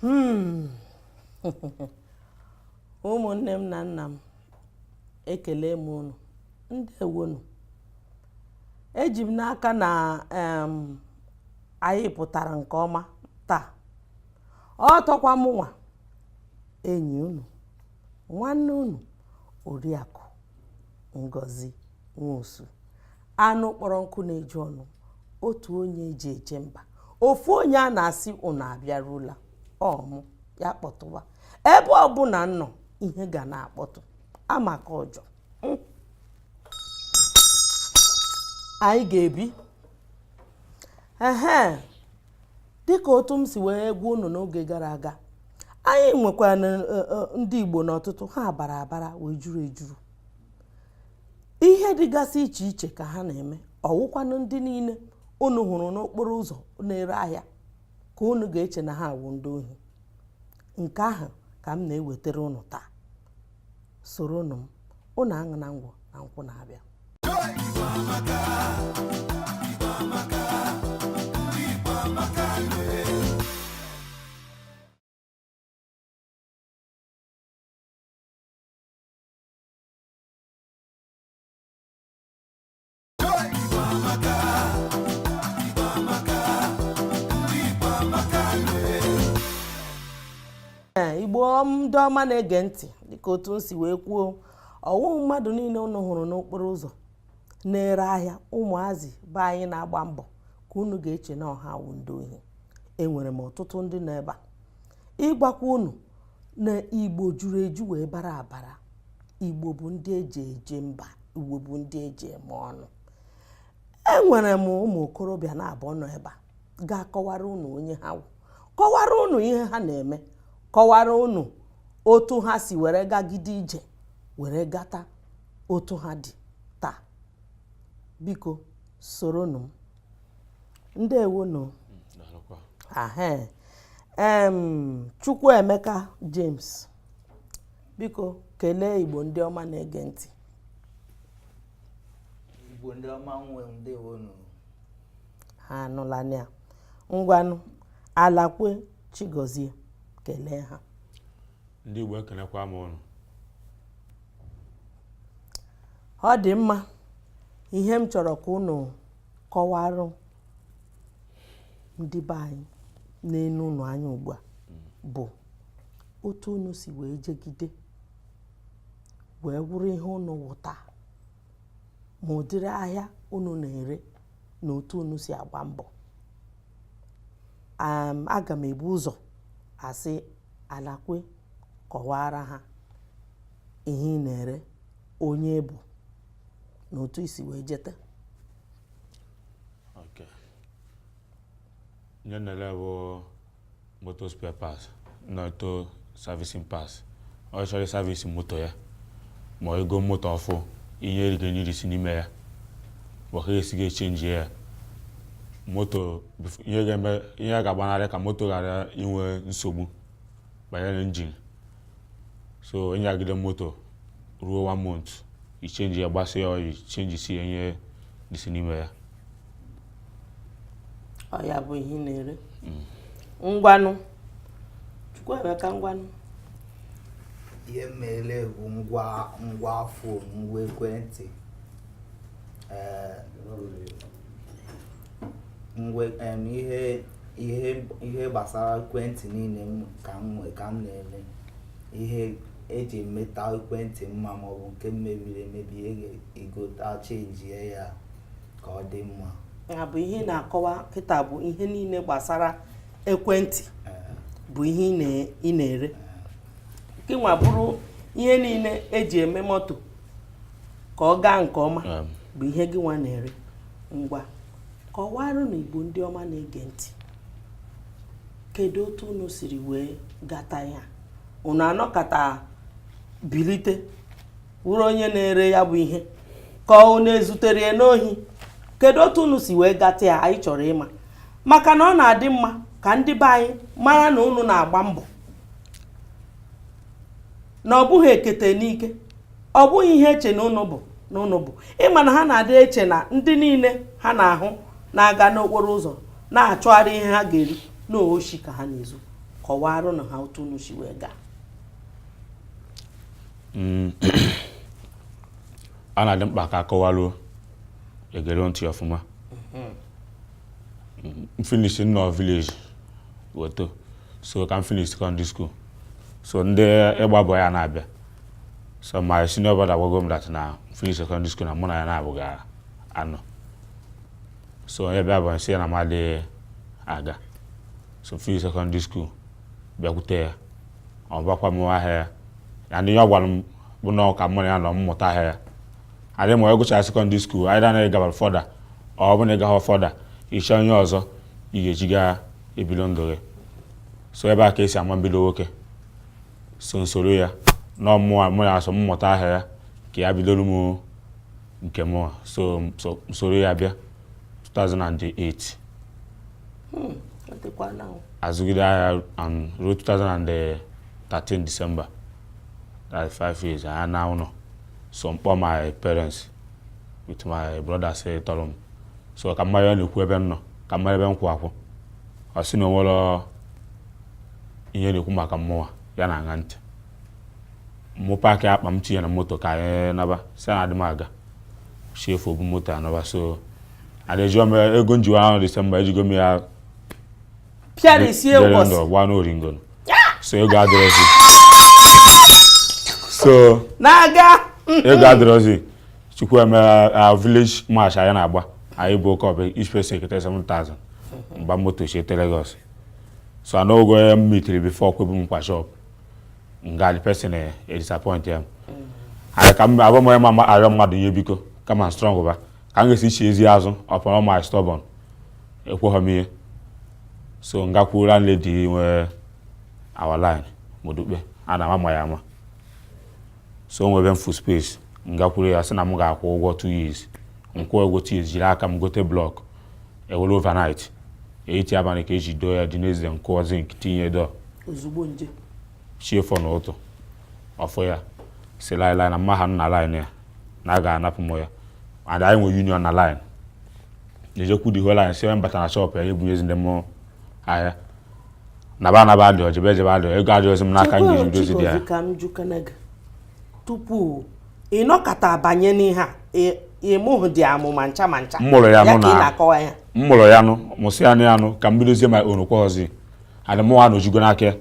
Hmm. ụmụnne m na nna m ekele m unu ndewonu eji m n'aka na anyị pụtara nke ọma taa ọ tọkwa mụnwa enyi unu nwanne unu oriakụ ngozi nwosu anụ kpọrọ nkụ na-eju ọnụ otu onye eji eje mba ofu onye a na-asị unu abịarula ọmụ ya kpọtụwa ebe ọbụla m nọ ihe ga na-akpọtụ amaka ọjọ hmm. anyị ga-ebi ehe dịka otu m si wee gwa unu n'oge gara aga anyị nwekwara e, e, ndị Igbo n'ọtụtụ ha bara abara wee juru ejuru ihe dịgasị iche iche ka ha na-eme ọ wụkwanụ ndị niile unu hụrụ n'okporo ụzọ na-ere ahịa ka unu ga-eche na ha awụ ndị ohi nke ahụ ka m na-ewetara unu taa soronụ m unu aṅụna ngwọ na nkwụ na-abịa igbo ndị ọma na-ege ntị dịka otu m si wee kwuo ọ wụhụ mmadụ niile unu hụrụ n'okporo ụzọ na-ere ahịa ụmụazị be anyị na-agba mbọ ka unu ga-eche na ọ ha wụ ndị ohi enwere m ọtụtụ ndị nọ ebe a ịgwakwa unu na igbo juru eju wee bara abara igbo bụ ndị eji eje mba igbo bụ ndị eji eme ọnụ enwere m ụmụ okorobịa naabọ nọ ebe a ga-akọwara unu onye ha wụ kọwara unu ihe ha na-eme kọwara unu otu ha si were gagide ije were gata otu ha dị taa biko soronụ m ndewonu ahe em Chukwuemeka James biko kelee Igbo ndị ọma na-ege ntị Igbo ndị ọma nwe m ndewonu ha anụla ya ngwanụ alakwe chigozie kelee ha ndị Igbo ekenekwa m unu ọ dị mma ihe m chọrọ ka unu kọwara ndị be anyị na-ene unu anya ugbu a bụ otu unu si wee jegide wee wụrụ ihe unu wụta ma ụdịrị ahịa unu na-ere na otu unu si agba mbọ aga m ebu ụzọ asị alakwe kọwara ha ihe ị na-ere onye ị bụ na otu i si wee jeta okay ihe m na-ere bụ moto spare parts na auto servicing parts onye chọrọ ịservice moto ya ma i go moto ọfụ ihe erigo n'irisi n'ime ya maka esi ga-echenji ya moto ihe ga-agbanarị ka moto ghara inwe nsogbu banyere engine so ị nyagide moto ruo one month i chenji ya gbasa ya oil chenjisie ihe dịsị n'ime ya ọ ya bụ ihe m na-ere mm. ngwanụ chukwuemeka ngwanụ ihe m na-ere bụ ngwa fon ngwa ekwentị ee eh, ngwa ihe ihe gbasara ekwentị niile ka m na-ele ihe eji emeta ekwentị mma maọbụ nke mebiri emebi e gota chenjie ya ka ọ dị mma ya bụ ihe ị na-akọwa kịta bụ ihe niile gbasara ekwentị bụ ihe ị na-ere nke nwa bụrụ ihe niile eji eme moto ka ọ gaa nke ọma bụ ihe gịnwa na-ere ngwa kọwaranụ Igbo ndị ọma na-ege ntị kedu otu unu siri wee gata ya unu anọkata bilite wụrụ onye na-ere ya bụ ihe ka unu ezutere ya n'ohi kedu otu unu si wee gata ya anyị chọrọ ịma maka na ọ na-adị mma ka ndị be anyị mara na unu na-agba mbọ na ọ bụghị ekete n'ike ọ bụghị ihe e che na unu bụ na unu bụ ị ma na ha na-adị eche na ndị niile ha na-ahụ na-aga n'okporo ụzọ na-achọgharị ihe ha ga-eri na oshi ka ha na-ezu kọwaranụ ha otu unu si wee gaa mm. ọ na-adị mkpa ka a kọwaruo e gere ntị ọfụma mm-hmm. m finish m nọ village wee too so ka m finish secondary school so ndị ịgba boy ya na-abịa so my senior brother gwago m that na m finish secondary school na mụ na ya naabọ ga-anọ so onye bịa bụ m sị ya na m adịghị aga so m finish secondary school bịakwute ya ọ bakwa m ahịa ya na ihe ọ gwara m bụ na ọ ka mụ na ya nọ m mụta ahịa ya and ịma ị gụchaa secondary school either na ị gaba further ọ bụ na ị gaghị further ị chọọ ihe ọzọ ị ga-eji gaa ebido ndụ gị so ebe a ka esi ama mbido nwoke so nsoro ya na ọmụwa mụ ya so mmụta ahịa ya ka ya bidoro m nke mụwa so so- nsoro ya bịa 2008 Hmm, ọ dịkwa na o. azụgide ahịa um, ruo 2013 December that's 5 years anyị naa ụlọ so mkpọ my parents with my brother settle m so ka m na ya na-ekwu ebe m nọ ka m mara ebe m kwụ akwụ ọ sị na o nwere ihe na-ekwu maka mmụnwa ya na-aṅa ntị mụ paakị akpa m tinye na moto ka anyị naba sị na adị m aga si efu obu moto anaba so a na-eji ego njiwa ahụ December ejigo m ya pịara isi ewu ọsị gba n'oringo so ego adịrọzi so na-aga ego adịrọzi chukwu eme uh, village match anyị na-agba anyị buo cup ọ bịa each person ekete 7000 mgba moto chiete Lagos so nwoke m meetiri before kwebu m nkwa shop nga the person eh, e disappointia m abụhọ m onye ma arịọ mmadụ ihe biko kama strong ba ka m ga-esi chiezi azụ upon my stubborn ekweghị m ihe so ngakwuru landlady nwe our line Modupe a na-ama ya ama so nwe ebe m fụrụ space ngakwuru ya sị na m ga-akwụ ụgwọ 2 years nkwụ ụgwọ 2 years jiri aka m gote block ewere overnight etiti abalị ka eji doo ya the next nkụọ zinc tinye door ozugbo nje chi efo na ụtụ ọ fụ ya sị laịlaị na m ma anọ na line ya na a ga-anapụ m ya and anyị nwere union na line o jekwu the whole line sị onye m bata na shop ya ebunyezina m ahịa naba anaba adịọ jebe ejebe adịọ ego adịọzi m n'aka m ga-eji bidozi dị ya ka m jụkene gị tupu ị nọkata banye n'ihe a ị mụhụdị amụ ma ncha ma ncha m mụrụ ya nụ na m mụrụ ya nụ mụsị ya nụ ya nụ ka m bidozie ma onukwa ọzi and mụ nwa nọjugo n'aka ya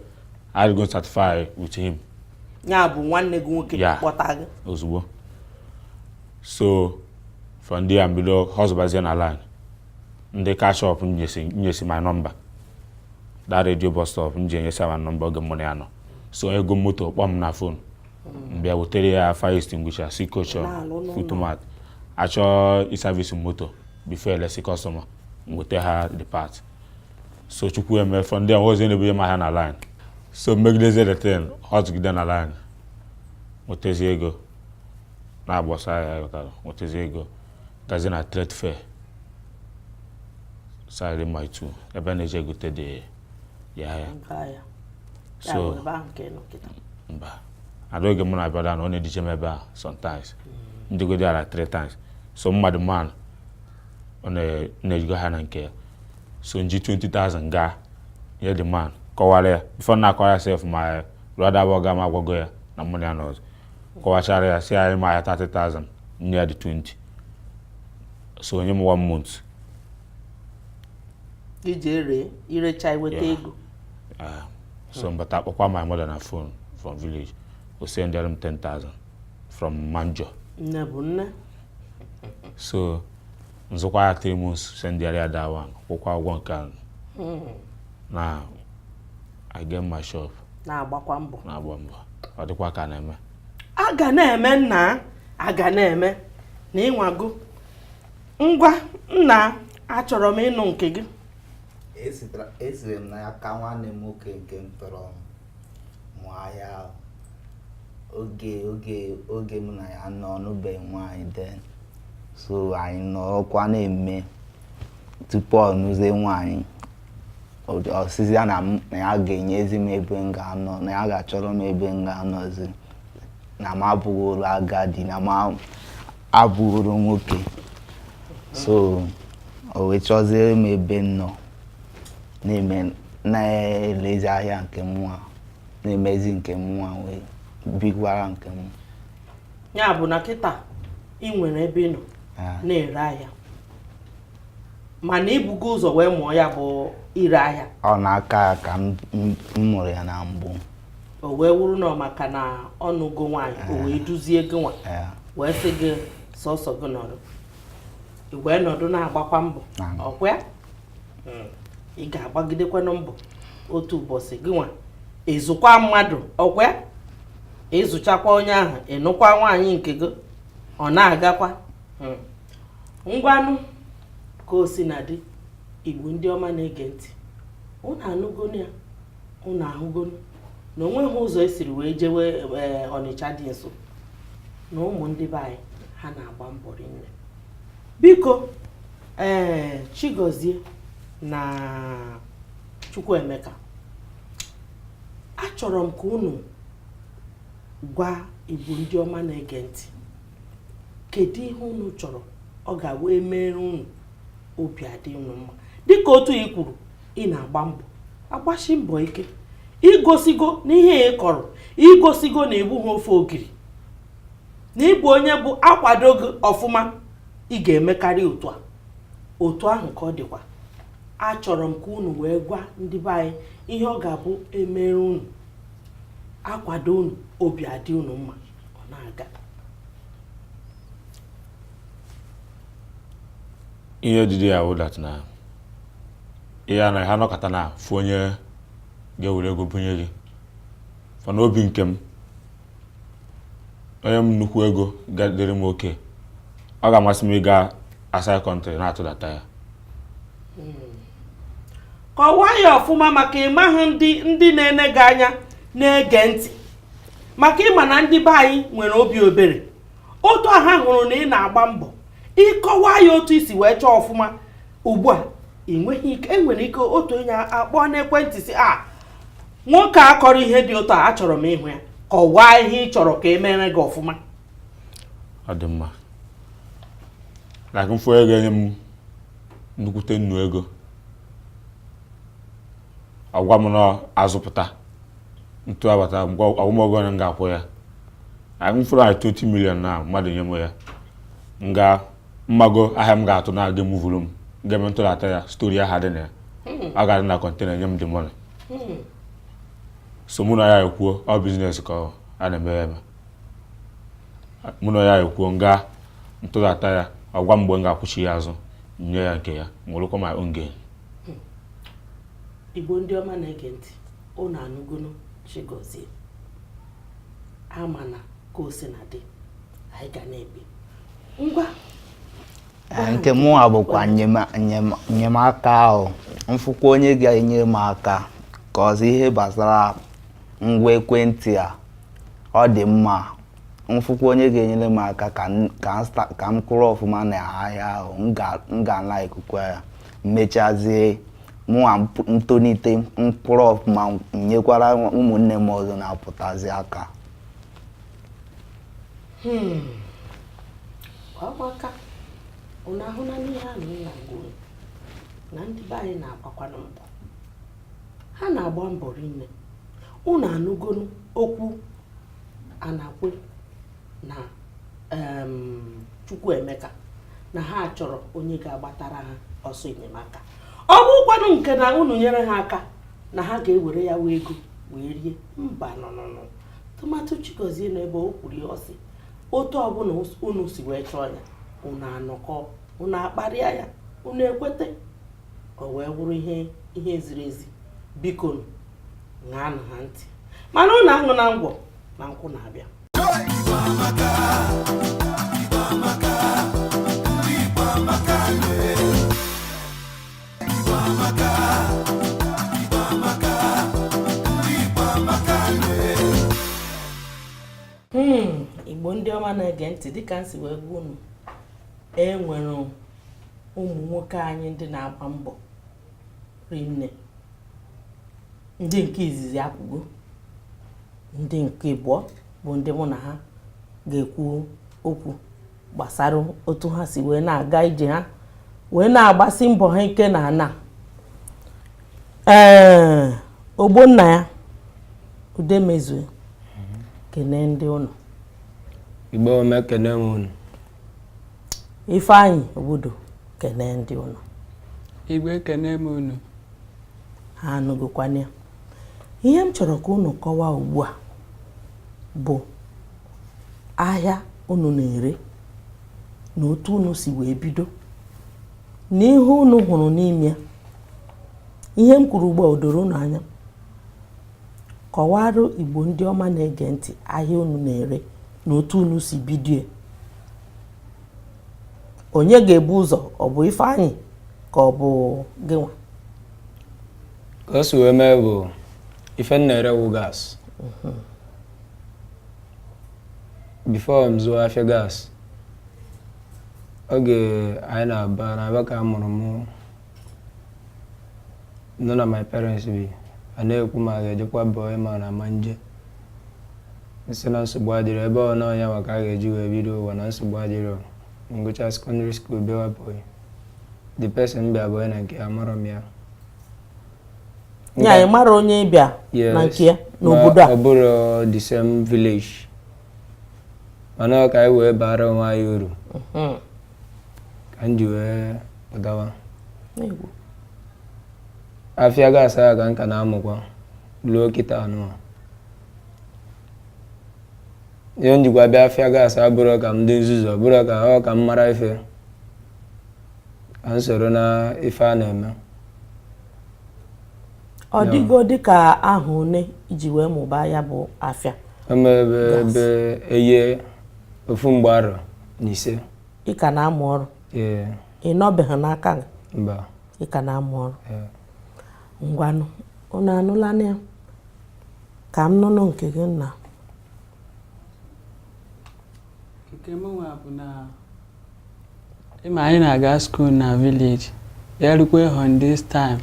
I go satisfy with him ya bụ nwanne gị nwoke Yeah. kpọta gị ozugbo so from there mbido hustlebazie na line ndị car shop nyesi nyesi my number that radio bus stop m ji enyesi my number oge mụ na ya nọ so e goo moto kpọọ m na phone mbịa wetere ya fire extinguisher C-caution foot mat achọọ i-service moto before elesi customer m weta ha the part so chukwu eme from there e wezi na-ebunye m ahịa na line so megidezi the thing hustlegide na line nwetezi ego na-agbasa ahịa ghọtara nwetezi ego gazi na trade fair side mile two ebe a na-eje egote dị ya ahịa Nke ahịa. Ya so bụ ebe ahụ ka ị nọ kịta. mba ada oge mụ na brother nọ ọ na-edije m ebe a sometimes njego there three times so m ma the man ọ na-eje ego ahịa na nke ya so nji 20,000 gaa nye the man kọwara ya before na akọwa ya sef my brother bụ ọga m agwago ya na mụ na ya anọzi kọwachara ya sị ya nye m ahịa 30,000 nye ya the 20 so o nye m one month i je ere irecha iweta Yeah. ego Ah, so m bata kpọkwa my mother na phone from village o sendere m 10,000 from manjo nne bụ nne so nzụkwa ahịa three months sendịara ya that one kwụkwa ụgwọ nke ahụ hmm. now i get my shop na-agbakwa mbọ na-agba mbọ ọ dịkwa ka na-eme a ga na-eme nna a ga na-eme na ị nwago ngwa nna achọrọ m ịnụ nke gị esiri m n'aka nwanne m nwoke nke m tọrọ mụọ ahịa oge oge mụ na ya nọ ọ nụbeghị nwaanyị then so anyị nọkwa na-eme tupu ọ nụzie nwaanyị ọ sịzịa na ya ga-enyezi m ebe m ga-anọ na ya ga-achọrọ m ebe m ga-anọzi na m abụrụ agadi na m abụrụ nwoke so o wee chọzie m ebe m nọ na-eme na-elezi ahịa nke mụwa na-emezi nke mụwa wee bikwara nke m ya bụ na kịta ị nwere ebe ị nọ ah. na-ere ahịa mana i bugo ụzọ wee mụọ ya bụ ire ahịa ọ n'aka ya ka m mụrụ ya na mbụ o wee wụrụ na maka na ọ nụgo nwaanyị o wee eh. duzie gị nwa eh. wee sị gị sọsọ gị nọdụ i wee nọdụ na-agbakwa mbọ ọkwa hmm. ị ga-agbagidekwanụ mbọ otu ụbọchị gị nwa ịzụkwa mmadụ ọkwa ịzụchakwa onye ahụ ịnụkwa nwaanyị nke gị ọ na-agakwa hmm. ngwanụ ka o si na dị igbo ndị ọma na-ege ntị ụnụ anụgonu ya ụnụ ahụgonu na onweghị ụzọ esiri wee jewe eh, ọnịcha dị nso na ụmụ ndị be anyị ha na-agba mbọ rinne biko ee Chigozie na Chukwuemeka achọrọ m ka unu gwa Igbo ndị ọma na-ege ntị kedu ihe unu chọrọ ọ ga-abụ emere unu obi adị unu mma dịka otu ị kwuru ị na-agba mbọ agbasi mbọ ike igosigo na ihe ị kọrọ igosigo na ị bụhọ ofe ogiri na ịbụ onye bụ akwado gị ọfụma ị ga-emekarị otu a otu ahụ ka ọ dịkwa achọrọ m ka unu wee gwa ndị be anyị ihe ọ ga-abụ emere unu akwado unu obi adị unu mma ọ na-aga ihe dịdị ya wụ that na ị naghị anọkata na-afụ onye ga-ewere ego bunye gị for n'obi nke m o nye m nnukwu ego ga-adịrị m okay ọ ga-amasị m ịga outside country na-atụdata ya hmm. kọwaa ya ọfụma maka ịmahụ ndị ndị na-ene gị anya na-ege ntị maka ịma na ndị be anyị nwere obi ebere otu a ha hụrụ na ị na-agba mbọ ị kọwaa ya otu i si wee chọọ ọfụma ugbu a enweghị ike enwere ike otu onye akpọọ n'ekwentị sị a ah, nwoke a kọrọ ihe dị ụtọ achọrọ m ịhụ ya kọwaa ihe ị chọrọ ka e mere gị ọfụma ọ dị mma like mfụ ego enye m nnukwute nnọọ ego ọ gwa m na azụpụta ntụbata ọ gwa m ego one m ga-akwụ ya like mfụrụ like 20 million na mmadụ nye m ya m gaa mmago ahịa m ga-atụ na aga emuvuru m ga-eme ntụdata ya story aha dị na ya hmm. a ga-adị na container nye m the money hmm. so mụ na ya ekwuo ọ business ka a na-eme ya eme mụ na ya ekwuo nga ntụdata ya ọ gwa m mgbe m ga-akwụchi ya azụ nye ya nke ya nwerekwa my own gain hmm. igbo ndị ọma na-ege ntị unu anụgonụ chigozie ama na ka o si na dị anyị ga na-ebi ngwa nke mụnwa bụkwa enyemaka ahụ mfụkwa onye ga-enye m aka ka a sị ihe gbasara ngwa ekwentị a ọ dị mma mfụkwa onye ga-enyere m aka ka m kwụrụ ọfụma na ahịa ahụ m ga na-ekwukwa ya mmechazie mụnwa ntonite m kwụrụ ọfụma nyekwara ụmụnne m ọzọ na-apụtazi aka hmm. ọgbaka ụnụ ahụna n'ihe a na m na-agwa ụnụ na ndị be anyị na-agbakwanụ mbọ ha na-agba mbọ rinne ụnụ anụgonu okwu Anakwe na Chukwuemeka na ha chọrọ onye ga-agbatara ha ọsọ enyemaka ọ bụkwanụ nke na unu nyere ha aka na ha ga-ewere ya wee ego wee rie mbanụ nụ tụmadụ Chigozie na ebe o kwuru ya ọ sị otu ọbụla unu si wee chọọ ya unu anọkọ unu akparịa ya unu ekweta o wee wụrụ ihe ziri ezi biko ṅaanụ ha ntị mana unu anụ na ngwọ na nkwụ na-abịa Hmm, Igbo ndị ọma na-ege ntị dịka m si wee gwa unu e nwere ụmụ nwoke anyị ndị na-agba mbọ rinne ndị nke izizi ekwugo ndị nke ịbụọ bụ ndị mụ na ha ga-ekwu okwu gbasara otu ha si wee na-aga ije ha wee na-agbasi mbọ ha ike na ana ee Ogbonnaya Udemezue kene ndị unu Igbo ọma ekene m unu Ifeanyị Obodo kene ndị unu Igbo ekene m unu ha anụgokwana ya ihe m chọrọ ka unu kọwaa ugbu a bụ ahịa unu na-ere na otu unu si wee bido na ihe unu hụrụ n'ime ya ihe m kwuru ugbu a o doro unu anya kọwara Igbo ndị ọma na-ege ntị ahịa unu na-ere na otu unu si bido onye ga-ebu ụzọ ọ bụ Ifeanyị ka ọ bụ gịnwa ka o si wee mee bụ ife m na-ere wụ gas mhm. before m zụwa afịa gas oge anyị nọ Aba n'Aba ka a mụrụ mụ nọ na my parents bi a na-ekwu ma a ga-ejekwa boy ma na ama m eje m sị na nsogbu adịrọ ebe ọ na ọ nyawa ka a ga-eji wee bido ụwa na nsogbu adịrọ m gụcha secondary school bịawa boy the person bịa boy na nke ya amarọ m ya ya ị mara onye ị bịa na nke ya n'obodo a ọ bụrụ the same village mana ọ ka anyị wee bara onwe anyị uru mhm. ka m ji wee pụtawa afịa gas a ka m ka na-amụkwa luo kịta a nụwa ihe m jikwa bịa afịa gas a bụrụ ka m dị nzuzu ọ bụrụ ka ọ ka m mara ife ka m soro na ife a na-eme ọ dịgo dịka ahọ one i ji wee mụba ya bụ afịa eme ebe ebe eye ofu mgbe arọ na ise ị ka na-amụ ọrụ ee ị nọbeghị n'aka gị mba ị ka na-amụ ọrụ ee ngwanụ unu anụlanụ ya ka m nụnụ nke gị nna nke mụnwa bụ na ị ma anyị na-aga school na village ya rukwe holidays time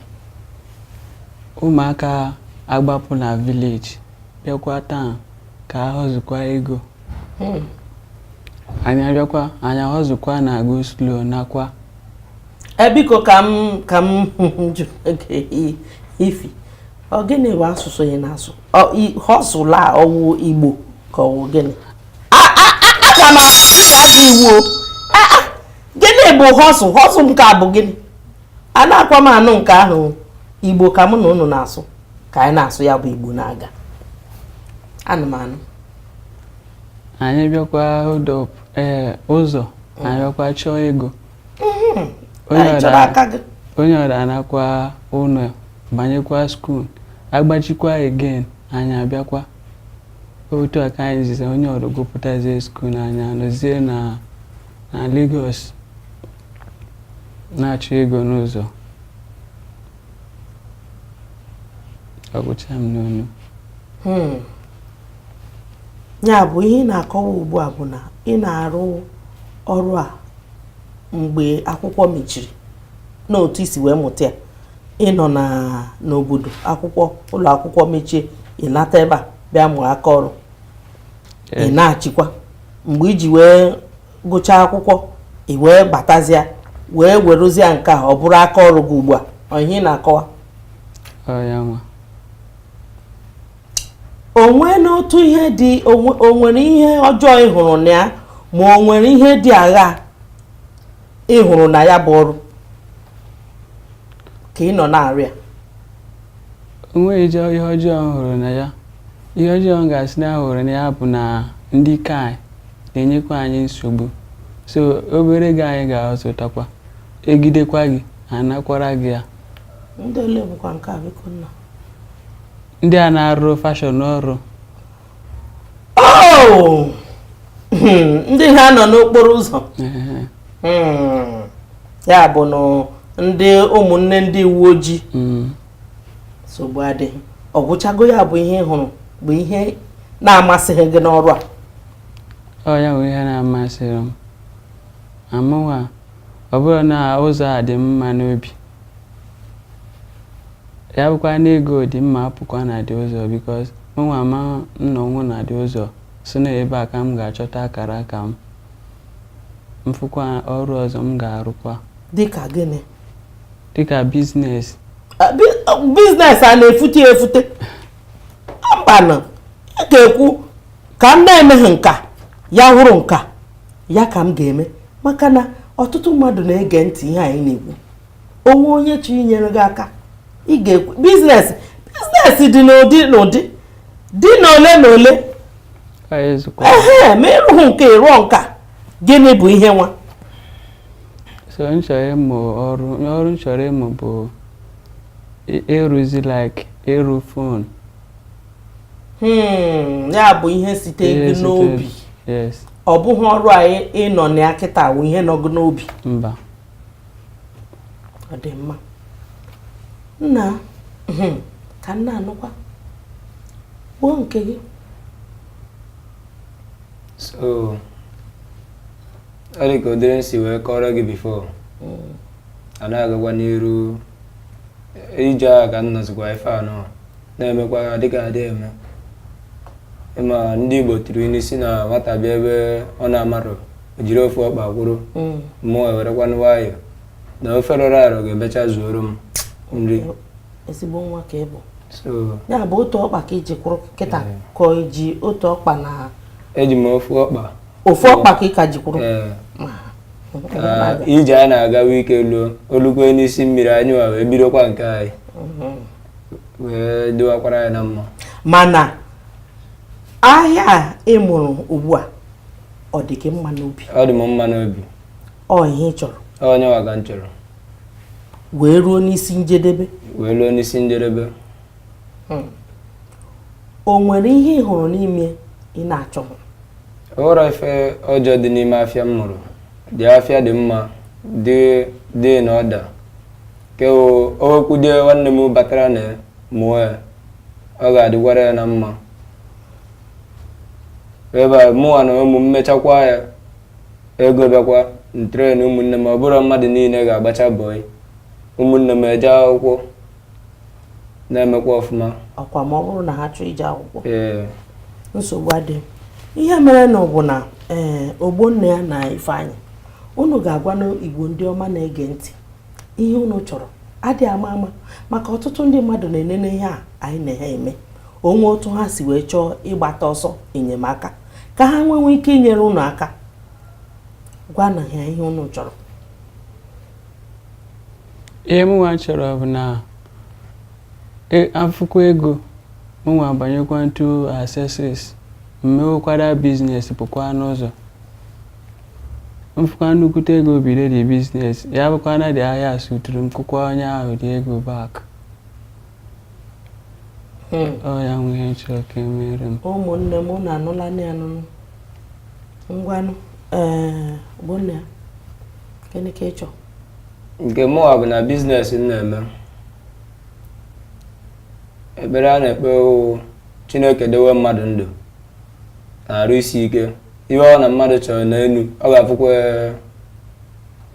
ụmụaka agbapụ na village bịakwa town ka a hustlekwa ego hmm. anyị abịakwa anyị ahustlekwa na go slow nakwa e, biko ka m ka m jụ ife ọ gịnị bụ asụsụ ị na-asụ hustle a ọ wụ Igbo ka ọ wụ gịnị aga m ajụ iwu gịnị bụ hustle hustle nke a bụ gịnị anakwa m anụ nke ahụ Igbo ka mụ na unu na-asụ ka anyị na-asụ ya bụ Igbo na-aga anụmanụ anyị bịakwa hold up ee eh, ụzọ mm. anyị bịakwa chọọ ego mm-hmm. onye ọra anakwa ụlọ banyekwa school agbachikwa again anyị abịakwa otu a ka anyị ziza onye ọrụ gụpụtazie school na anyị anọzie na Lagos na-achọ ego n'ụzọ ọ gwụcha m n'ọnụ hmm. ya bụ ihe ị na-akọwa ugbu a bụ na ị na-arụ ọrụ a mgbe akwụkwọ mechiri n'otu i si wee mụta ya ị nọ na n'obodo akwụkwọ ụlọ akwụkwọ mechie ị nata ebe a bịa mụọ aka ọrụ ị nachikwa mgbe i ji wee gụchaa akwụkwọ ị wee batazịa wee werụzie nke a ọ bụrụ aka ọrụ gị ugbu a ọ ihe ị na-akọwa o nwere otu ihe dị o nwere ihe ọjọọ ị hụrụ na ya ma o nwere ihe dị agha ị hụrụ na ya bụ ọrụ ka ị nọ na-arụ ya onweghị jọ ihe ọjọọ m hụrụ na ya ihe ọjọọ m ga-asị na hụrụ na ya bụ na ndị ka anyị na-enyekwa anyị nsogbu so obere ego anyị ga-azụtakwa ejidekwa gị anakwara gị ya ndị a na-arụrụ Fashola ọrụ oh! hmm, ndị ha nọ n'okporo ụzọ hmm, ya bụnụ ndị ụmụnne ndị uwe ojii hmm. nsogbu adịghị ọ gwụchago ya bụ ihe ị hụrụ bụ ihe na-amasịghị gị n'ọrụ a ọ ya bụ ihe na-amasịrọ mụwa ọ bụrụ na ụzọ adị m mma n'obi ya bụkwa na ego dị mma apụkwa na dị ụzọ because Mụnwa amaghị m na ọ wụ na dị ụzọ, sị na ebe a ka m ga-achọta akara aka m, m fụkwa ọrụ ọzọ m ga-arụkwa. Dị ka gịnị? Dị ka business. Business a na-efute ya efute? Mbanụ, ị ga-ekwu ka m na-emeghị nke a, ya wụrụ nke a, ya ka m ga-eme maka na ọtụtụ mmadụ na-ege ntị ihe anyị na-ekwu. o nwee onye chọrọ inyere gị aka ị ga-ekwu business business dị n'ụdị n'ụdị dị n'ole na ole ehe ma ị rụghị nke a ị rụọ nke a gịnị bụ ihe nwa so m chọrọ ịmụ ọrụ ọrụ m chọrọ ịmụ bụ ịrụzi like ịrụ phone hmm, ya bụ ihe site gị n'obi ọ bụghị ọrụ a ị nọ na ya kịta wụ ihe nọ gị n'obi mba ọ dị mma nna hmm, ka m na-anụkwa kwuo nke gị so ọ dị ka ụdịrị m si wee kọọrọ gị before hmm. a na-agagwa n'iru ije agha ka m nọzikwa ife a nọ na-emekwa ya dịka e dị eme ị ma ndị Igbo tụrụ inu sị na nwata bịa ebe ọ na-amarọ o jiri ofu ọkpa kwụrụ mm. mụnwa ewerekwanụ nwayọọ na ofe rọrọ arọ ga-emecha zuoro m nri ezigbo nwa ka ị bụ ya bụ otu ọkpa ka i ji kwụrụ kịta ka i ji otu ọkpa na eji m ofu ọkpa ofu ọkpa ka ị ka ji kwụrụ ije a na-aga ike luo o lukwe n'isi mmiri anyị wa wee bidokwa nke anyị mhm. wee dịwakwara anyị na mma mana ahịa a ị mụrụ ugbu a ọ dị gị mma n'obi ọ dị m mma n'obi ọ ihe ị chọrọ ọ yanwa ka m chọrọ wee ruo n'isi njedebe wee ruo n'isi njedebe hmm. o nwere ihe ị hụrụ n'ime ya ị na-achọghị o nwerọ ife ọjọọ dị n'ime afịa m mụrụ the afịa dị mma dị dị in order ke o nwekwudie nwanne m batara na mụọ ya ọ ga-adịkwara ya na mma ebe a mụnwa na ụmụ m mechakwa ya ego bịakwa m train ụmụnne m ọ bụrọ mmadụ niile ga-agbacha bọị ụmụnne m eje akwụkwọ na-emekwa ọfụma ọkwa ma ọ bụrụ na ha chọọ ije akwụkwọ nsogbu adị ihe merenụ bụ na ee eh, ogbonnaya na ifeanyị unu ga-agwanụ igbo ndị ọma na-ege ntị ihe unu chọrọ adị ama ama maka ọtụtụ ndị mmadụ na-enene ihe a anyị na ha eme o nwee otu ha si wee chọọ ịgbata ọsọ enyemaka ka ha wee nwee ike inyere unu aka gwanụ ha ihe unu chọrọ ihe mụnwa chọrọ bụ na e, afụkwa ego mụnwa abanyekwa into accessories m mewekwara business pụkwa n'ụzọ m fụkwa nnukwute ego bido the business ya bụkwa na the ahịa suturu m kwụkwa onye ahụ the ego back hmm. ọ yanwa ihe m chọrọ ka e mere m ụmụnne m unu anụlanụ ya n'ọnụ ngwanụ eh, ogbonnaya gịnị ka ị chọrọ nke mụwa bụ na business m na-eme ekpere a na-ekpe Chineke dewe mmadụ ndụ na arụ isi ike ihe ọ bụna mmadụ chọrọ n'elu ọ ga-afụkwa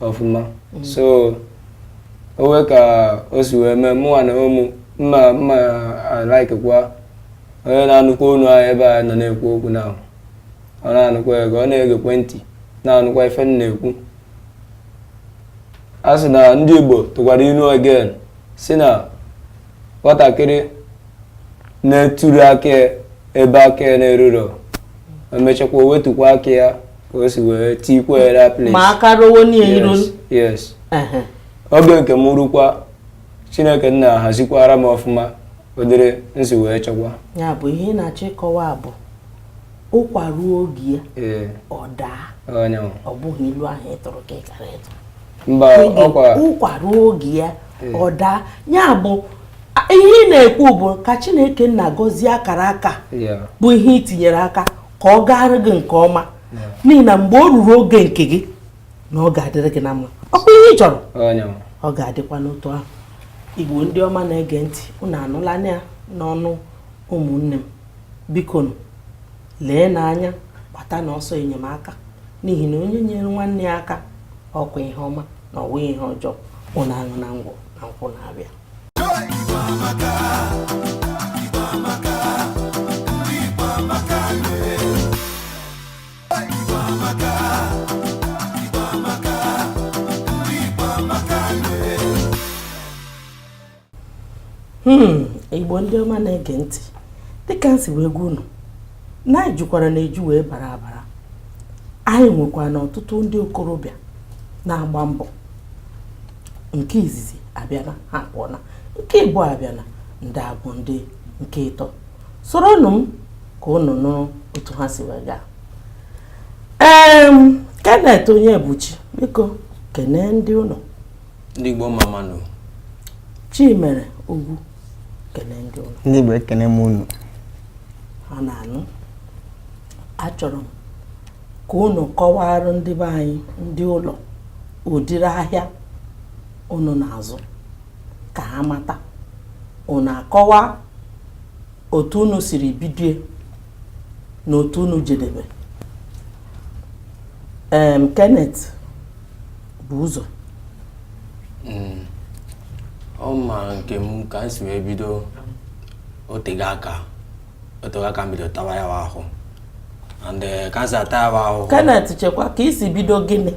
ọfụma mm. so o nwee ka o si wee mee mụnwa na ụmụ mma mma a-likekwa onye na-anụkwa onu anyị ebe a nọ na-ekwu okwu na ọ na-anụkwa ego ọ na-egekwa ntị na-anụkwa ife m na-ekwu a sị na ndị Igbo tụkwara ilu again si na nwatakịrị na-eturu aka ya ebe aka ya na-erurọ emechakwa o wetukwa aka ya ka o si wee tikwa ya na place ma aka ruwo n'ihe iru yes yes Ehe. oge nke m rukwa chineke nna hazikwara m ọfụma ụdịrị m si wee chọkwa ya bụ ihe ị na-achọ ịkọwa bụ ụkwa ruo oge ya ọ daa ọ bụghị ilu ahụ ị tụrụ ka ị kara ịtụ ụkwa ruo oge ya ọ daa ya bụ ihe ị na-ekwu bụ ka Chineke nna gọzie akara aka bụ ihe ị tinyere aka ka ọ gaara gị nke ọma n'ihi na mgbe o ruru oge nke gị na ọ ga-adịrị gị na mma ọ bụ ihe ị chọrọ ọ ga-adịkwa n'otu ahụ igbo ndị ọma na-ege ntị unu anụla ya n'ọnụ ụmụnne m bikonu lee n'anya gbata na ọsọ enyemaka n'ihi na onye nyere nwanne ya aka ọ kwa ihe ọma na ọ wụ ihe ọjọọ unu aṅụna ngwọ na nkwụ na-abịa hmm, igbo ndị ọma na-ege ntị dịka m si wee gwa unu na anyị jukwara na eju wee bara abara anyị nwekwara na ọtụtụ ndị okorobịa na-agba mbọ nke izizi abịana ha pụọna nke ịbụọ abịana ndị a bụ ndị nke ịtọ soronụ m ka unu nụ otu ha si wee gaa ee Kenneth Onyebuchi biko kenee ndị ụlọ ndị Igbo mma mma nụ Chimere Ogwu kene ndị ụlọ ndị Igbo ekene m unu ha na-anụ achọrọ m ka unu kọwara ndị be anyị ndị ụlọ ụdịrị ahịa unu na-azụ ka ha mata unu akọwa otu unu siri bidie na otu unu jedebe em Kenneth bu ụzọ Mm. ma nke m ka m si wee bido o tego aka o tego aka m bido tawa ya wa ahụ eh, Kenneth chekwa ka i si bido gịnị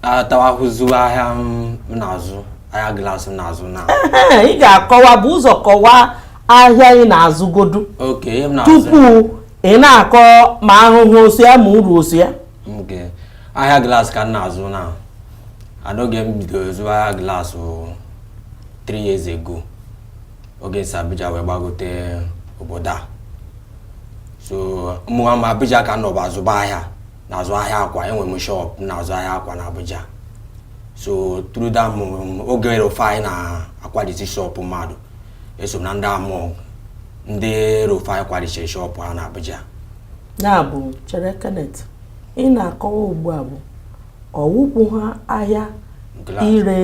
atawa ahụ zụwa ahịa m na-azụ ahịa glaasị m na-azụ na ị ga-akọwa bu ụzọ kọwaa ahịa ị na-azụgodu tupu ị na-akọ ma ahụhụ so ya ma uru so ya ahịa glaasị ka m na-azụ na and oge m bidoro zụwa ahịa glaasị 3 years ago oge m si Abuja wee gbagote obodo a so mụnwa ma Abuja ka m nọbu azụba ahịa na-azụ ahịa akwa enwere m shop na-azụ ahịa akwa na Abuja so through that oge El-Rufai na-akwalisi shop mmadụ eso m na ndị amụ ndị Rufai kwarisiri shop ha na Abuja ya bụ chere Kenneth ị na-akọwa ugbu a bụ ọwụpụ ha ahịa ire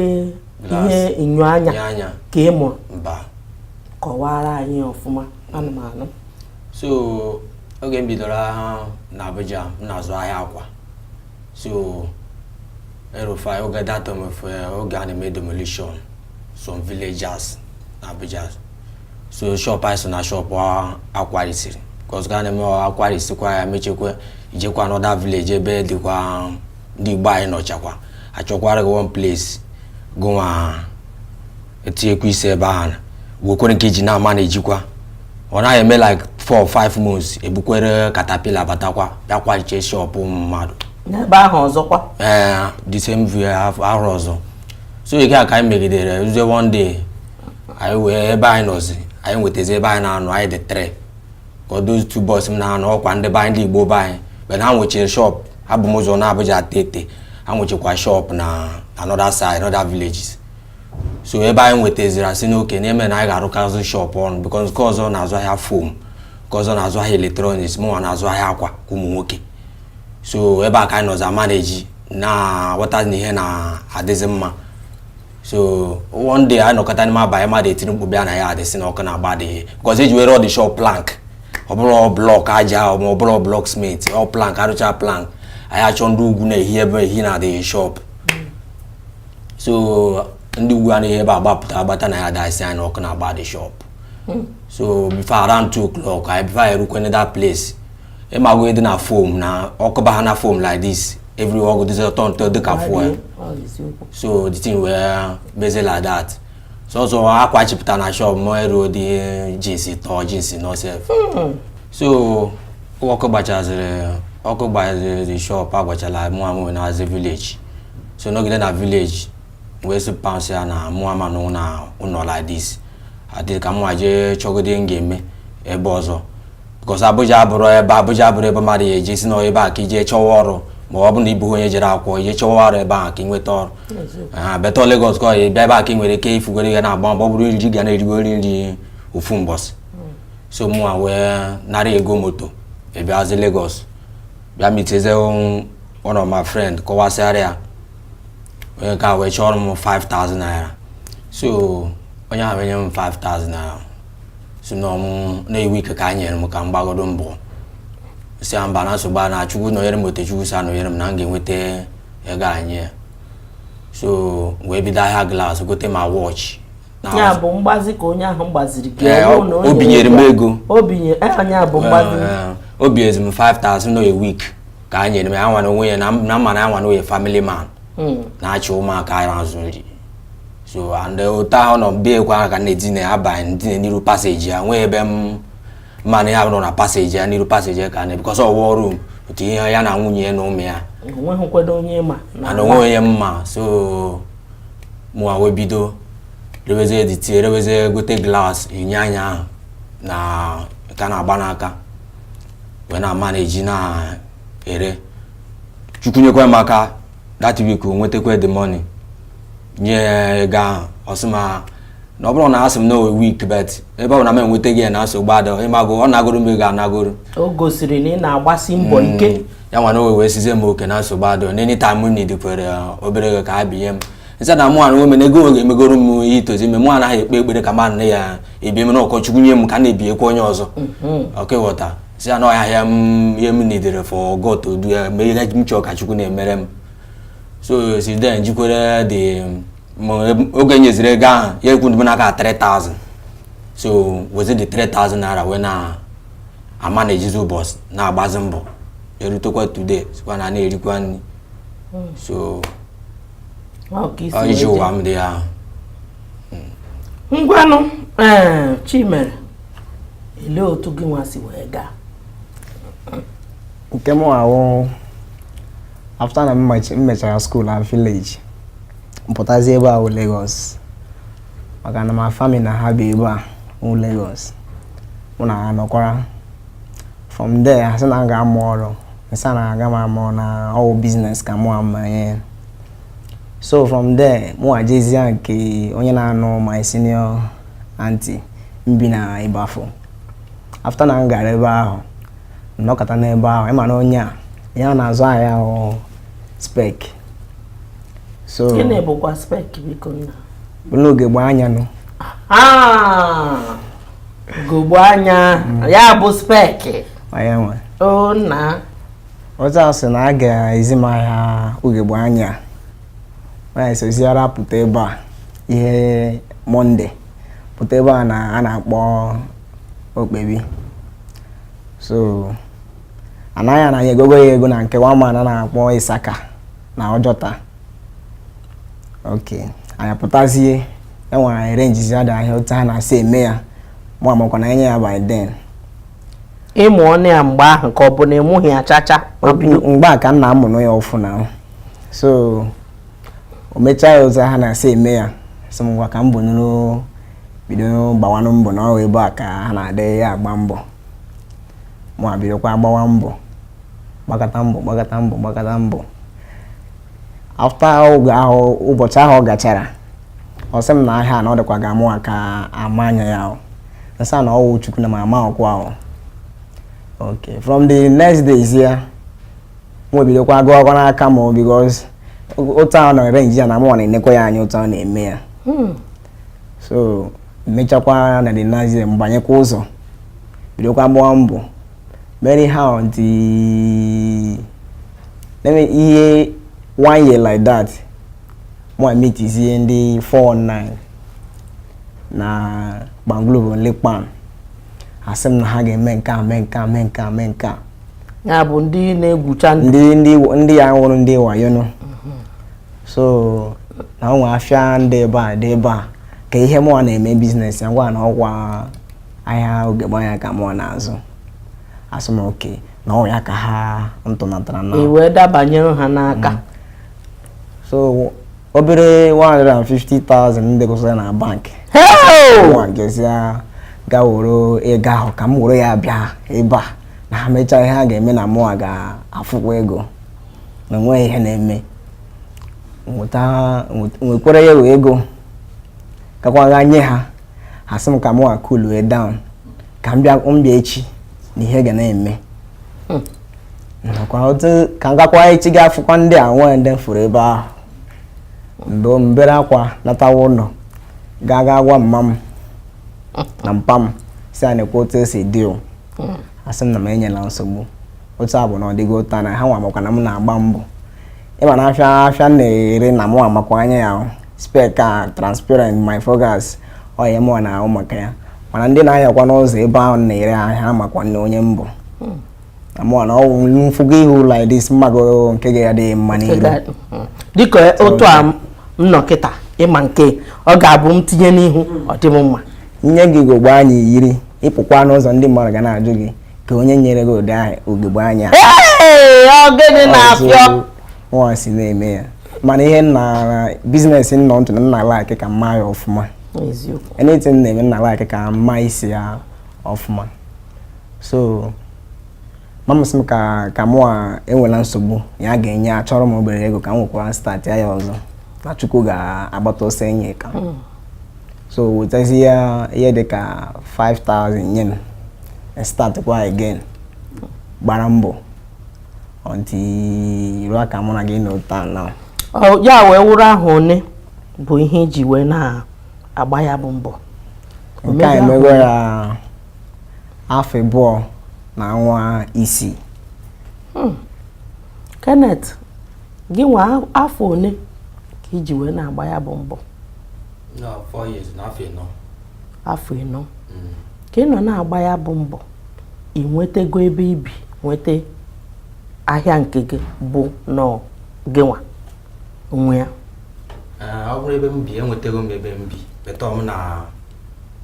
ihe enyo anya ka ị mụrụ mba kọwara anyị ọfụma ana m anụ so oge m bidoro na Abuja m na-azụ ahịa akwa so El-Rufai oge that time oge a na-eme demolition some villages na Abuja so shop anyị so na shop a kwarisiri because ị ga na-eme a kwarisikwa ya mechekwa i jekwa another village ebe dịkwa ndị igbo anyị nọchakwa achọkwara gị one place gụnwa etinyekwa isi ebe ahụ wekwere nke iji na-amanejikwa ọ naghị eme like 4 or 5 months ebukwere katapila batakwa bịa kwariche shop ụmụ mmadụ n'ebe ahụ ọzọkwa ee eh, the same ihe ahụ ọzọ so nke a ka anyị megidere ruzie one day anyị nwee ebe anyị nọzi anyị nwetazi ebe anyị na-anọ anyị dị three those two boys m na ha nọ ọkwa ndị be anyị ndị igbo be anyị but ha nwechiri shop ha bu m ụzọ na Abuja tete ha nwechikwa shop na another side another villages so ebe anyị nwetaziri asị na okay na-eme na anyị ga-arụkọzi shop ọnụ because nke ọzọ na-azụ ahịa foam nke ọzọ na-azụ ahịa electronics mụnwa na-azụ ahịa akwa ka ụmụ nwoke so ebe a ka anyị nọzi amaneji na-aghọta na ihe na-adịzi mma so one day anyị nọkọta n'ime abalị mmadụ etiri mkpu bịa na ya adasị na ọkụ na-agba the because eji wee rụ all the shop plank ọ bụrọ block aja ma ọ bụ block cement ọ plank arụcha plank anyị achọ ndị ugwu na-ehi ehi na the shop so ndị ugwu a na-ehi ebe a gbapụta gbata na ya adasị anyị na ọkụ na-agba the shop so before around two o'clock anyị before anyị erukwene that place ịmago ihe dị na foam na ọkụ baa na foam like this every ọ ga-adịzị ọ turn to dịka fuel so the thing wee mezi like that sọsọ akwa chipụta na shop m erudị jeans ịtọ jeans ịnọ sef so ọkụ gbachaziri ọkụ gbaziri the shop agbachala mụ anaazị village so nọgide na village wee sị pa m sị ya na mụ ama anọ na ụlọ like this adị ka mụnwa je chọgodi ihe m ga-eme ebe ọzọ because Abuja abụrọ ebe Abuja abụrọ ebe mmadụ ya-eji sị na ebe a ka ije chọwa ọrụ ma ọ bụ na ịbụghị onye jere akwụkwọ ije chọwa ọrụ ebe a ka ị nweta ọrụ ha better Lagos ka ị ya-abịa ebe a ka ị nwere ike ifugoro ihe na-agba mbọ ọ bụrụ nri ị ga na-erigoro nri ofu mbọsị so mụnwa wee nara ego moto bịazi Lagos bịa meetizie one of my friend kọwasịara ya onye nke a wee chọrọ m 5000 naira so onye ahụ enye m 5000 naira sị n'ọ mụ na a week ka a nyere m ka m gbagodo mbọ sị ya mba na nsogbu a na chukwu nọnyere m otu chukwu si anọnyere m na m ga-enweta ego a nye ya so wee bido ahịa glass gote ma watch na ya bụ mgbazi ka onye ahụ gbaziri gị Ee, o binyere m ego- ego. o binye eh, onye a bụ mgbazi Eh, o binyezi m 5000 n'ọ a week ka a nyere m ya nwa na onwe ya na m- na m ma na ya nwa na onye family man Mm. na-achị ụmụaka ya azụ nri so and eh, otu ahụ nọ bịa ekwe ahụ ka m na-edina ebe ahụ m dina n'iru passage ya nwee ebe mụ na ya nọ na passage ya n'iru passage ya ka m nọ because ọ wụ one room otu ihe ya na nwunye na ụmụ ya onweghị nkwado onye ma na ana onwe onye m ma so mụwa wee bido rewezie dịtie rewezie gote glass ihe anya ahụ na nke a na-agba n'aka wee na-amanage na-ere Chukwu nyekwa m aka that week o nwetakwa the money nye ego ahụ ọ sị m na ọ bụrụ na a sị m na one week but ebe ọ na m enwetaghị ya na nsogbu adịghị ị mago ọ nagoro m ego anagoro o gosiri na ị na-agbasi mbọ mm. ike ya nwa na o wee sịzie m okay na nsogbu adịghị any time m need kwuru uh, obere ego ka ya binye m m sị ya na mụ anụ omena ego oge emegoro m ihe i tozi ime mụ anaghị ekpe ekpere ka mmadụ na-ebi m na ọ ka Chukwu nye m ka m na-ebikwa onye ọzọ ọkwa mm-hmm. ị ghọta sị ya na ọ ya ihe m needed for God to do ya mee ihe m chọrọ ka Chukwu na-emere m so since then jikwere the oge nyeziri ego ahụ ya ekwu dị m n'aka 3000 so wezie the 3000 naira wee na-amanagezi ụbọchị na-agbazi mbọ erutekwa today sikwa na na-erikwa nri so iji ụwa m dị ahụ ngwanụ ee Chimere olee otu gị nwa si wee gaa nke mụwa wụ after na m mechara school na village m pụtazie ebe a Lagos maka na my family na ha bi ebe a wụ Lagos mụ na ha nọkwara from there ha sị na m ga-amụ ọrụ m sị ha na aga m amụ na ọ wụ business ka mụ amanye so from there mụ ajezie nke onye na-anụ my senior auntie m bi na Ibafo after na m gara ebe ahụ m nọkata n'ebe ahụ ịma na onye a ya na-azụ ahịa ahụ spec so gịnị bụkwa spec biko nna ugegbe anya nụ ugegbe anya mm. ya bụ spec anya nwe o nna ọzọ asị na a ga-ezi m ahịa ugegbe anya anyị soziara pụta ebe a ihe Monday pụta ebe a na a na-akpọ Opebi so anaghị anaghị egogo ya ego na nke one man a na-akpọ Isaka na Ojota ok anyị pụtazie enwere anyị arrangezi ada ahịa otu ha na-asị eme ya mụ amakwa na enye ya by then ị mụọnụ ya mgbe ahụ ka ọ bụ na ị mụghị ya chacha mgbe a ka m na-amụnụ ya ọfụụ na so o mechaa ya otu ha na-esi eme ya sị m ngwa ka m bonyụrụ bido gbawanụ mbọ na ọ wụ ebe a ka ha na-adị ya agba mbọ mụ ebidokwa gbawa mbọ gbakata mbọ gbakata mbọ gbakata mbọ after oge ahụ ụbọchị ahụ ọ gachara ọ sị m na ahịa na ọ dịkwa ka mụwa ka ama anya ya m sị ya na ọ wụ Chukwu na m ama ọkwa ahụ okay from the next days ya mụwa ebidokwa gawa aga n'aka m because otu ahụ na-arrange ya na mụ na-enekwa ya anya otu ahụ na-eme ya hmm. so mechakwa na the next day m banyekwa ụzọ bidokwa gbaa mbọ many how the ihe one year like that mụ emeetizie ndị 419 na gbanglovo lekpan asị m na ha ga-eme nke a mee nke a mee nke a mee nke a ya bụ ndị na-egwucha ndị ndị ndị ya wụrụ ndị wayo nụ so na ụmụ afịa ndị ebe a dị ebe a kee ihe mụwa na-eme business ya m gwa ha na ọkwa ahịa ugogbe anya ka mụwa na-azụ ha sị m okay na ọ ya ka ha tụnatara na ihe dabanyere ha n'aka mm. so obere 150,000 m dekọsịrị na bank mụwa gazie ga were ego ahụ ka m were ya bịa ebe a na ha mechaa ihe ha ga-eme na mụnwa ga-afụkwa ego na enweghị ihe na-eme m wekwara ya wụ ego gakwa ga nye ha ha sị m ka mụnwa coolue down ka m bịa echi na ihe ga na-eme hmm. nakwa otu ka m gakwa echi ga afụkwa ndị a nwee ndị m fụrụ ebe ahụ mgbe m bere akwa natawa ụlọ gaa gaa gwa mma m na mpa m sị ha nekwa otu o si dị hmm. ha sị m na m enyela nsogbu otu ọ bụna ọ dị ghọta na ha nwa makwa na m na-agba mbọ ị ma na afịa afịa m na-ere na mụ amakwa anya ya spec a transparent my focus ọ ya mụwa na-ahụ maka ya mana ndị na-anọkwa n'ụzọ ebe ahụ na-ere ahịa makwa onye m bụ hmm. mụwa na ọ wụ m fụgo ihu like this m mago nke ga-adị gị mma n'iru hmm. dịka otu a m nọ kịta ị ma nke ọ ga-abụ m tinye n'ihu ọ dị m mma nye gị ugogbe anya i yiri ị pụkwa n'ụzọ ndị mmadụ ga na-ajụ gị kee onye nyere gị ụdị ahụ ugogbe anya ọ gịnị na-afịọ nwa si na-eme ya mana ihe nna business m nọ ntụ na m na-alike ka m ma ya ọfụma anything m na-eme m na-alike ka m ma isi ya ọfụma so mama sị m ka mụwa enwela nsogbu ya ga-enye achọrọ m obere ego ka m wekwara startia ya ọzọ na chukwu ga-agbata ọsọ enyemaka so wetazia ihe dị ka 5000 nye m start kwa again gbara mbọ until ruo ka mụ na gị nọ ụta na ya wee wụrụ afọ one bụ ihe i ji wee na-agba ya bụ mbọ nke a emego ya afọ abụọ na ọnwa isii hmm. Kenneth gị nwa afọ one ka i ji wee na-agba ya bụ mbọ afọ ịnọ afọ ịnọ ka ị nọ na-agba ya bụ mbọ ị nwetago ebe ibi nweta ahịa nke gị bụ nọọ gị nwa onwe ya ọ bụrụ ebe m bi enwetego m ebe m bi but mụ na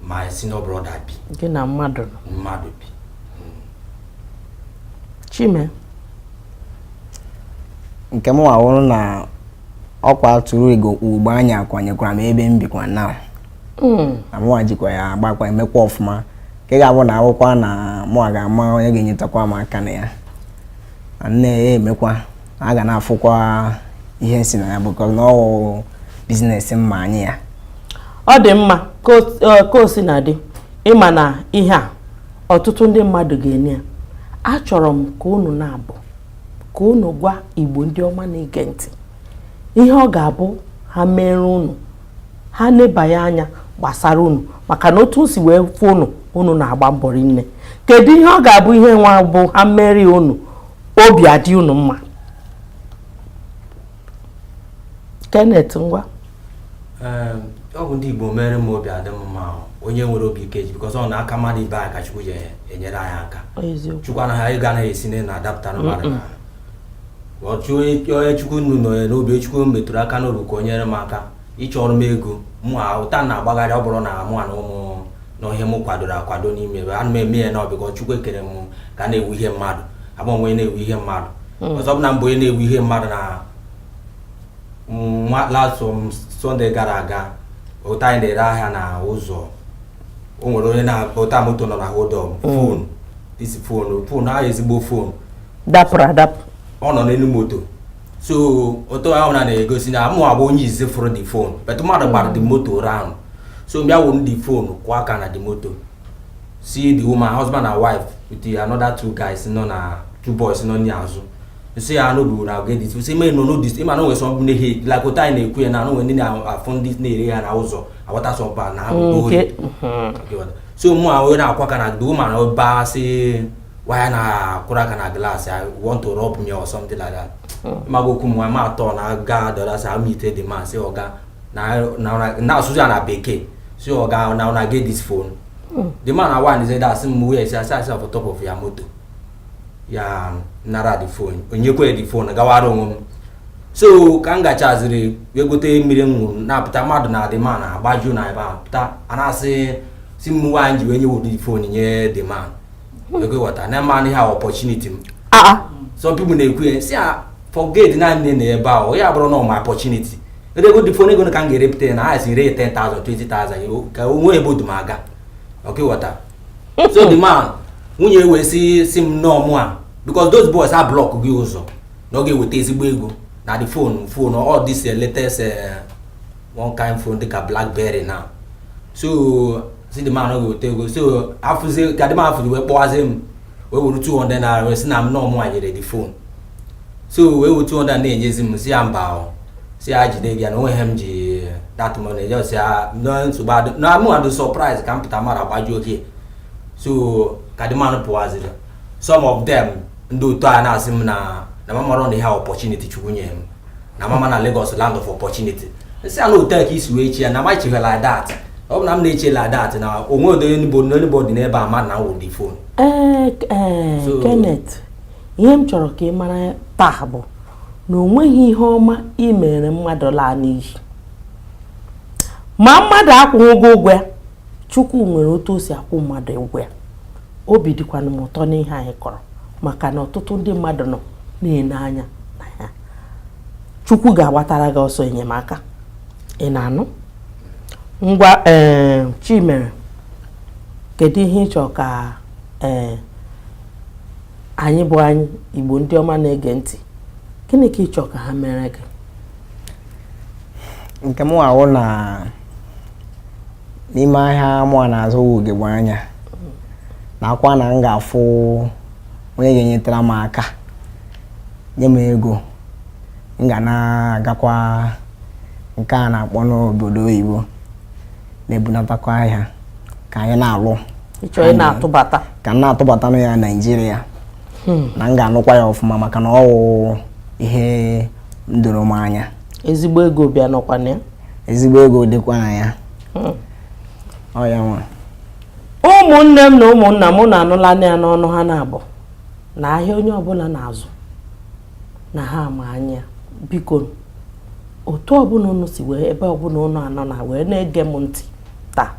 my senior brother bi gị na mmadụ nọ mmadụ bi chime nke mụwa wụrụ na ọkwa tụrụ ego ugbo anya kwanyekwara m n'ebe m bikwa na hmm. na mụwa jikwa ya agbakwa emekwa ọfụma ka ị ga-abụ na ọ wụkwa na mụwa ga-ama onye ga-enyetakwa m aka na ya nne ya emekwa a ga na-afụkwa ihe si na ya because na ọ wụ business m ma anya ya ọ dị mma ka o sina dị ị ma na ihe a ọtụtụ ndị mmadụ ga-ene ya achọrọ m ka unu naabọ ka unu gwa Igbo ndị ọma na-ege ntị ihe ọ ga-abụ ha meere unu ha nebanye anya gbasara unu maka na otu m si wee fụ unu unu na-agba mbọ rinne kedu ihe ọ ga-abụ ihe nwa ọ bụ ha meere unu obi adị unu mma Kenneth ngwa ọ bụ ndị Igbo meere m obi adị m mma onye nwere obi ike ji because ọ n'aka mmadụ ibe anyị ka Chukwu ji enyere anyị aka Chukwu anaghị ego anaghị esi na adapụtara mmadụ achọ onye chukwu nnu nọ ya n'obi chukwu metụrụ aka n'obi ka o nyere m aka ịchọrọ m ego mụ ụta na-agbagharị ọ bụrụ na mụ na ụmụ na ihe m kwadoro akwado n'ime ebe ana m eme ya na because chukwu ekerọ m ka m na-ewu ihe mmadụ abụ onye na-ewu ihe mmadụ hmm. ọzọ bụ na m bụ onye na-ewu ihe mmadụ na last Sunday gara aga ụta anyị na-ere ahịa na ụzọ o nwere onye na-akpọta moto nọ na hold up phone this phone phone ahụ ezigbo phone dapụrụ adapụ ọ nọ n'elu moto so otu ahụ na na-egosi na mụwa bụ onye izizi fụrụ the phone but mmadụ gbara the moto round so m bịa wụrụ the phone kụọ aka na the moto sị the woman husband and wife with another two guys nọ na two boys nọ n'azụ nso ya anụ buru na ogedi si ma nọ n'odis ị ma na o nwe sọ bụ n'ihe like ụta anyị na-ekwu ya na o nwe ndị na-afụ ndị na-ere ihe na ụzọ aghọta sọmpa na ha bụ so mụ wee na-akụ aka na the woman ọba si why na akụrụ aka na glass i want to rob me or something like that hmm. ma bụ okwu m m a turn ga the other side meet the man sị ọga na asụsụ ya na bekee sị ọga na una get this phone hmm. the man awa ni zeda asị m wee sị I see am for top of your motor ya nara the phone onyekwe the phone gawara onwe m so ka m gachaziri wee gote mmiri m ṅụrụ na-apụta mmadụ na the man agbaju na ebe a pụta a na-asị sị m why m ji wee nye were the phone nye the man ah, ah. some people na-ekwu ya sị a forget naanị na ebe ahụ ya bụrụ na ọ my opportunity ego the phone ego ka m ga-erepụta ya na ha si ree 10,000 20,000 ka o nwee ebe ọ du m aga ọkwa ị ghọta so the man nwunye wee sị sị m na ọ mụwa because those boys a block gị ụzọ na ọ ga-eweta ezigbo ego na the phone phone all this eh, latest eh, one kind phone dịka blackberry now so sị the man ọ ga-eweta ego so afụzi ka the man fụzi wee kpọwazi m wee were 200 naira wee sị na m na ọ mụ nyere the phone so wee were 200 na-enyezi m sị ya mba o sị ya jide gị ya na o nweghị ihe m ji that money just ya na nsogbu adị na mụ adị surprise ka m pụta mmadụ agbajuo gị so ka the man pụwaziri some of them ndị otu a na-asị m na na m amarọ na ihe opportunity chukwu nye m na m ama na Lagos land of opportunity m sị ya na ọ otu a ka i si wee chee ya na m echeghị like that ọ bụ na m na-eche like that na o nwerọdụ anybody n'ebe a ma na m were the phone ee Kenneth ihe m chọrọ ka ị mara taa bụ na o nweghị ihe ọma ị mere mmadụ laa n'iyi ma mmadụ akwụghị ụgwọ ya chukwu nwere otu o si akwụ mmadụ ụgwọ ya obi dịkwana m ụtọ n'ihe anyị kọrọ maka na ọtụtụ ndị mmadụ nọ na-ele anya chukwu ga-agbatara gị ọsọ enyemaka ị na-anụ ngwa ee eh, chimere kedu ihe ị chọrọ ka ee eh, anyị bụ anyị igbo ndị ọma na-ege ntị gịnị ka ị chọrọ ka ha mere gị nke mụwa wụ na n'ime ahịa mụwa na-azụ ugegbe anya na akwa na m ga-afụ onye ga-enyetara m aka nye m ego m ga na-agakwa nke a na-akpọnụ obodo oyibo na-ebunatakwa ahịa ka anyị na-alụ ka m na-atụbatanụ ya Naịjirịa hmm. na m ga-anụkwa ya ọfụma maka na ọ wụ ihe doro m anya ezigbo ego bịa nọkwa na ya ezigbo ego dịkwa na ya hmm. oya ngwa ụmụnne m na ụmụnna m unu anụla ya n'ọnụ ha na-abụ na ahịa onye ọbụla na-azụ na ha ma anya bikonu otu ọbụla unu si wee ebe ọbụla unu anọ na wee na-ege m ntị taa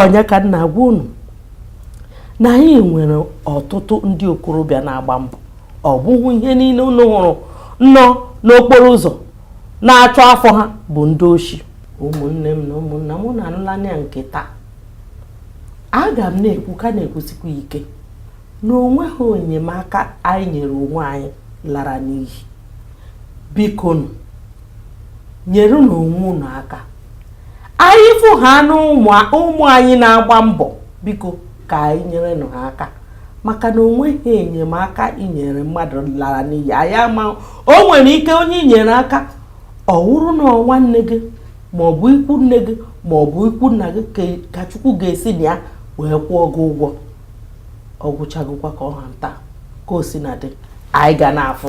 onye ka m na-agwa unu na anyị nwere ọtụtụ ndị okorobịa na-agba mbọ ọ bụghị ihe niile unu hụrụ nọ n'okporo ụzọ na-achọ afọ ha bụ ndị oshi ụmụnne m na ụmụnna m unu anụlanụ ya nke taa aga m na-ekwu ka na-ekwusikwa ike na onweghị enyemaka anyị nyere onwe anyị lara n'iyi bikonu nyerenụ onwe unu aka anyị fụ ha na ụmụ anyị na-agba mbọ biko ka anyị nyere nụ ha aka maka na onweghị enyemaka i nyere mmadụ lara n'iyi anyị ama o nwere ike onye i nyere aka ọ wụrụ na nwanne gị ma ọ bụ ikwu nne gị ma ọ bụ ikwu nna gị ka chukwu ga-esi na ya wee kwụọ gị ụgwọ ọ gwụchagokwa ka ọ ha nta ka o si na-adị anyị ga na-afụ